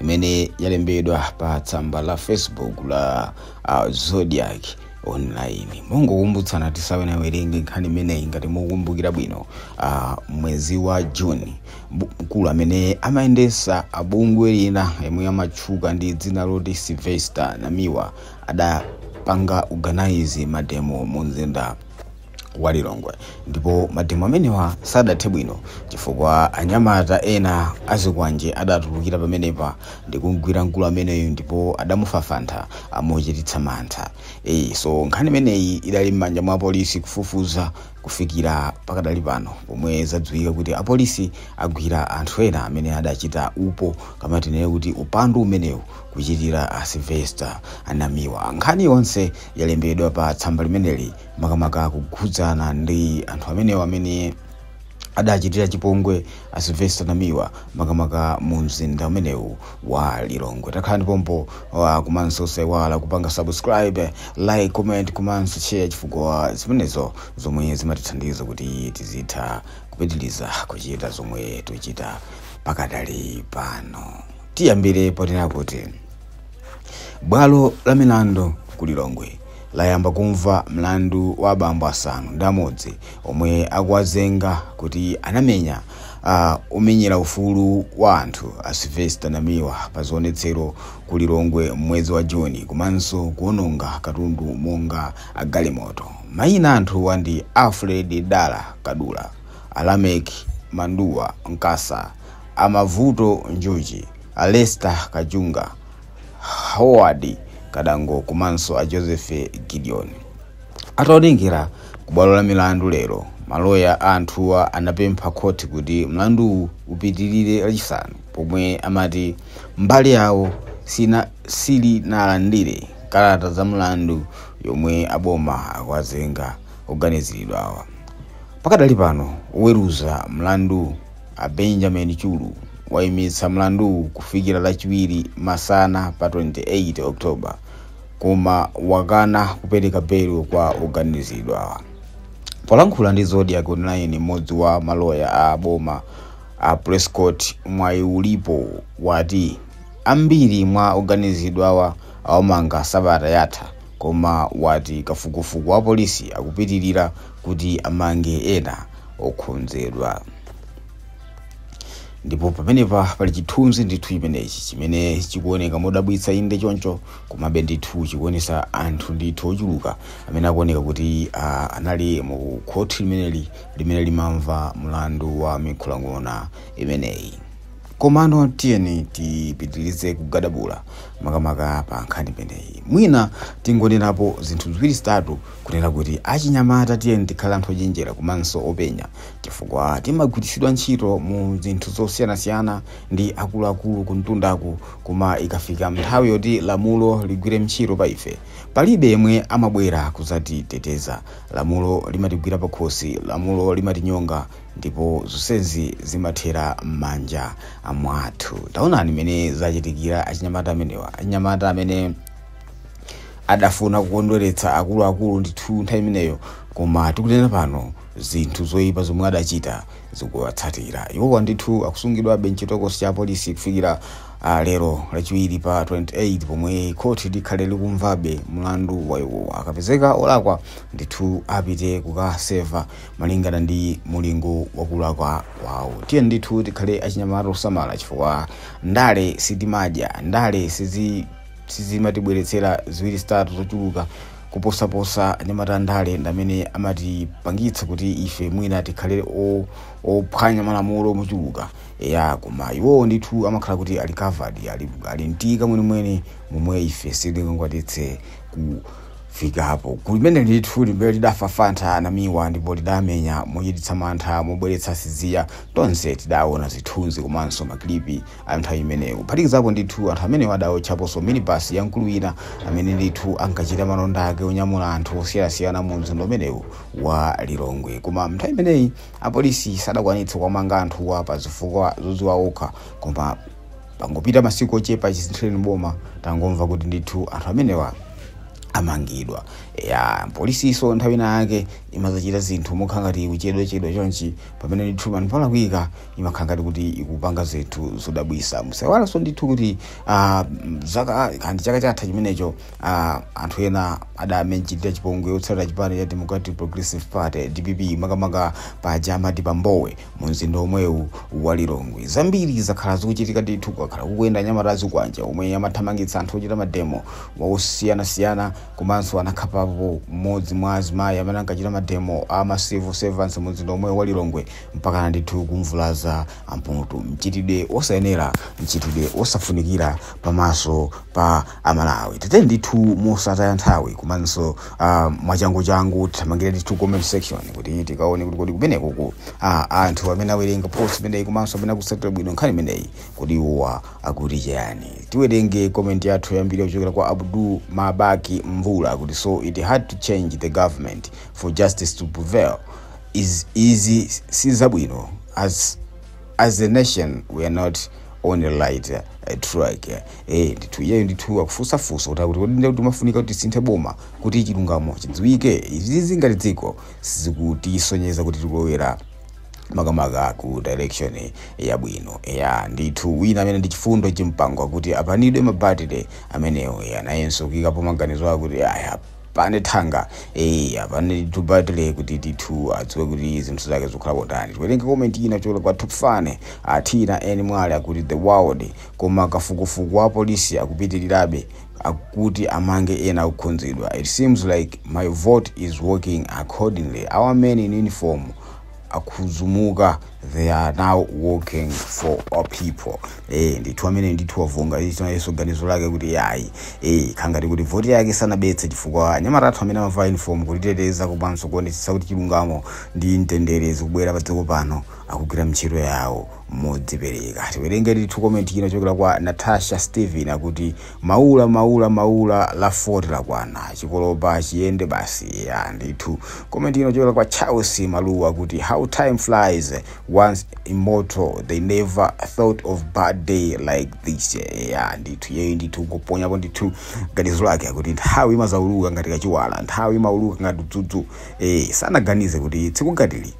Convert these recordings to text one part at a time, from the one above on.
imene yalembedwa pa tsamba la facebook la uh, zodiac online mongokumbutsana tisanawerenge nkhani imeneyi ngati mukukumbukira bwino uh, mwezi wa june bu- mkulu amene amayendetsa bungwe lina yemwe amatchuka ndi dzina loti sylvester namiwa adapanga organize mademo mu mzinda wa Lilongwe ndipo mademo amenewa sadathe bwino chifukwa anyamata ena azikwanje adatulukira pamenepa ndikugwira mkulu ameneyu ndipo adamufafantha mochititsa mantha e, so nkhani imeneyi idali m'manja mwa apolisi kufufuza kufikira pakadali pano pomwe zadziwika kuti apolisi agwira anthu ena amene adachita upo kaya tinene kuti upandu umenewu kuchitira a Sylvester Namiwa nkhani yonse yalembedwa pa tsamba limeneli makamaka kukhudzana ndi anthu amenewa amene adachitira chipongwe a Sylvester Namiwa makamaka mu mzinda umenewu wa Lilongwe. Takhalani pompo uh, komanso osaiwala kupanga subscribe, like, comment komanso share chifukwa zimenezo ndi zomwe zimatithandiza kuti tizitha kupitiriza kuchita zomwe tikuchita pakadali pano. Tiyambire ponena kuti bwalo la milandu ku Lilongwe layamba kumva mlandu wa abambo asanu ndi amodzi omwe akuwazenga kuti anamenya omenyera ufulu wa anthu a Sylvester Namiwa pa zionetsero ku Lilongwe m'mwezi wa Juni komanso kuononga katundu monga agalimoto. Mayina a anthuwa ndi Alfred Dala Kadula, a Lameck Manduwa Mkasa, a Mavuto Njuchi, a Lester Kajunga, Howard Kadango komanso a Joseph Gideon. Ataonekera ku bwalo la milandu lero, maloya a anthuwa anapempha khoti kuti mlanduwu upitirire Lachisanu pomwe amati mbali yawo sinalandire kalata za mlandu yomwe aboma akuwazenga oganiziridwawa. Pakadali pano, oweruza mlandu A Benjamin Chulu waimitsa mlanduwu kufikira lachiwiri masana pa 28 October koma wakana kupereka belo kwa oganizidwawa. Polankhula ndi Zodiak Online m'modzi wa maloya a boma a Prescott Mwayiulipo wati ambiri mwa oganizidwawa awamanga sabata yatha koma wati kafukufuku wa apolisi akupitilira kuti amange ena okhonzedwa ndipo pamenepa pali chithunzi ndithu chimenechi chimene chikuoneka modabwitsa inde choncho komabe ndithu chikuonesa anthu ndithu ochuluka amene akuoneka kuti ah, anali mu khoti limeneli limene limamva mlandu wa mikhulang'ona imeneyi komano tiyeni tipitirize kugadabula makamaka pa nkhani imeneyi mwina tingonenapo zinthu ziwiri zitatu kunena kuti achinyamata tiyeni tikhale anthu ochenjera komanso openya chifukwa timagwiritsidwa ntchito mu zinthu zosiyanasiyana ndi akuluakulu kumtundaku koma ikafika nthawi yoti lamulo ligwire ntchito pa ife palibe yemwe amabwera kuzatiteteza lamulo limatigwira pakhosi lamulo limatinyonga ndipo zonsezi zimathera m'manja mwathu taonani mmene zachitikira achinyamata amenewa achinyamata amene adafuna kukondweretsa akuluakulu ndithu nthawi imeneyo koma tikunena pano zinthu zoyipa zomwe adachita zikuwatsatira iwowa ndithu akusungidwabe mchitokosi cha polisi kufikira uh, lero lachiwiri pa 28 pomwe khoti likhale likumvabe mlandu wa iwowa akapezeka olakwa ndithu apite kukaseva malingana ndi mulingo wakulakwa kwawo tiyeni ndithu tikhale achinyamata osamala chifukwa ndale sitimadya ndale sizi sizimatibweretsera ziwiri zitatu zochuluka kuposaposa achinyamata andale ndamene amatipangitsa kuti ife mwina tikhale o- ophwanya malamulo mochuluka ya koma iwowo ndithu amakhala kuti ali covered ali, ali mtika mwenimweni momwe ife sitingakwanitse kufikapo gulu limene ndithu limene lidafafantha Namiwa ndipo lidamenya mochititsa mantha mobweretsa siziya tonse tidaona zithunzi komanso makilipi a nthawi imeneyo, kuphatikizapo ndithu anthu amenewa adaotchaponso minibus ya mkulu wina amene ndithu ankachita malonda ake onyamula anthu osiyanasiyana mu mzinda umenewu wa Lilongwe. Koma nthawi imeneyi, apolisi sadakwanitse kuwamanga anthuwa pa zifukwa zodziwa okha. Koma pangopita masiku ochepa chisinthireni boma, tangomva kuti ndithu anthu amenewa amangidwa. Eya, polisinso nthawi ina yake imadzachita zinthu mokhala ngati ikuchedwachedwa chonchi, pamene ndithu penapake palakwika imakhala ngati kuti ikupanga zinthu zodabwisa musaiwalenso ndithu kuti ah, mm, zaka kandi chaka chatha chimenecho ah, anthu ena adawachitira chipongwe otsatira chipani cha democratic progressive party dpp makamaka paja amati pambowe mu mzinda omwewu wa lilongwe zambiri zakhala zikuchitika ndithu kwakhala kukuyenda anyamata a zikwanje omwe amathamangitsa anthu ochita mademo osiyanasiyana komanso anakhapapo mmodzi mwa azimayi amene ankachita mademo a ma civil servants mu mzinda omwewu wa lilongwe mpakana ndithu kumvulaza amputu mchitidwe wosayenera mchitidwe wosafunikira pamaso pa amalawi tiyeni ndithu mosataya nthawi komanso uh, mwachanguchangu tithamangire ndithu comment section kuti tikaone kuti kodi kumenekoko ah, anthu amene awerenga post imeneyi komanso amene akusatira bwino nkhani imeneyi kodi iwowa akuti cheyani tiwerenge comment yathu yoyambirira yochokera kwa abdu mabaki mvula kuti so it had to change the government for justice to prevail Iz, izi sizabwino as as a nation we are not on the right uh, track eh ndithu iyeyo ndithu akufunsa funso kuti akuti kodi ndikuti mafunika kuti lisinthe boma kuti chilungamo chidziwike izizi ngati dziko sizikutisonyeza kuti tikulowera makamaka ku direction yabwino ya ndithu wina amene ndi chifundo chimpangwa akuti apanidwe abatile amenewo ya nayenso kuyikapo maganizo akuti aya pana thanga eya pana tubatile kuti ndithu adziwe kuti zinthu zake zikukhala motani tiwerenge comment ina yochokera kwa tupfane athina eni mwale akuti the world koma kafukufuku wa polisi akupitirirabe akuti amange ena akukhudzidwa it seems like my vote is working accordingly our men in uniform akhuzumuka they are now working for our people eh ndithu amene ndithu wavunga icho nayenso ganizo lake kuti yayi eh khangati kuti voti yake sanabetse chifukwa anyamata athu amene amavala uniform kutiteteza komanso kuonetsetsa kuti chilungamo ndi mtendere zikubwera pa dziko pano akugwira ntchito yawo modzipereka tiwerenge ndithu komenti ina yochokera kwa natasha steven akuti Maula maula maula la 40 lakwana chikolopa chiyende basi eya ndithu comment ina kuchokera kwa Charles Maluwa akuti how time flies once immortal they never thought of bad day like this eya ndithu iyeyu ndithu kuponyapo ndithu ganizo lake akuti nthawi imadzauluka ngati kachiwala nthawi imauluka ngati dzudzu eh sanaganize kuti tsiku ngatili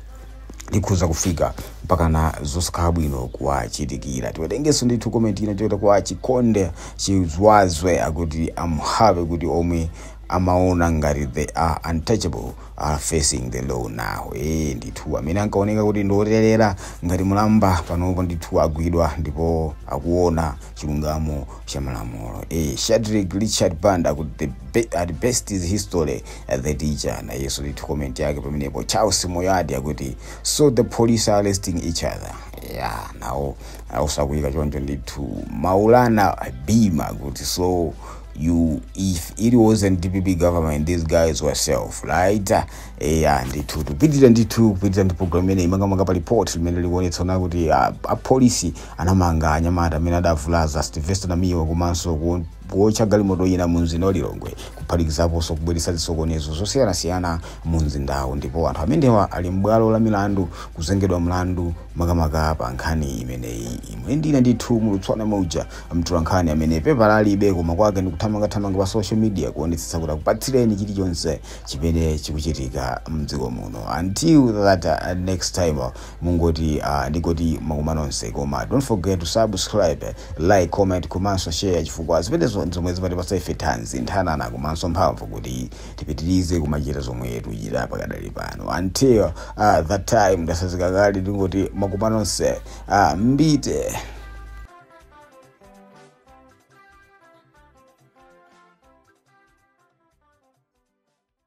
likhoza kufika mpakana zosakhala bwino kuwachitikira tiwerengenso ndithu comment ina yochokera kwa chikonde chizwazwe akuti am happy kuti omwe amaona ngati they are untouchable are facing the law now eh ndithu amene ankaoneka kuti ndi oterera ngati mulamba panopo ndithu agwidwa ndipo akuona chilungamo cha malamulo eh Shadrick Richard Banda akuti the be, the best is history the teacher nayenso ndithu comment yake pamenepo charles moyadi akuti so the police are arresting each other ya nawo akusakuyika choncho ndithu maulana bima akuti so you if it wasn't dpp government these guys were safe right eya ndithu tupitira ndithu kupitira ndi program imeneyi makamaka pa report limene likuonetsa kuti ah, apolisi anamanga anyamata amene adavulaza sylvester namiwa komanso ku kuotcha galimoto ina mu mzinda wa Lilongwe kuphatikizaponso kubweretsa zisokonezo zosiyanasiyana mu mzindawu ndipo anthu amenewa ali m'bwalo la milandu kuzengedwa mlandu makamaka pa nkhani imeneyi. Imwe ndinali ndithu Mulutswana Mauja, mtolankhani amene pepala alibe koma kwake ndi kuthamangathamanga pa social media kuonetsetsa kuti akupatsireni chilichonse chimene chikuchitika m'dziko muno. Until that uh, next time. mungoti ah ndingoti makumano onse koma don't forget to subscribe like comment komanso share chifukwa zimenezo zomwe zimatipatsa ife thanzi nthanana komanso mphamvu kuti tipitirize kumachita zomwe tikuchita pakadali pano until uh, that time ndasazika kale ndingoti makumano onse uh, mbite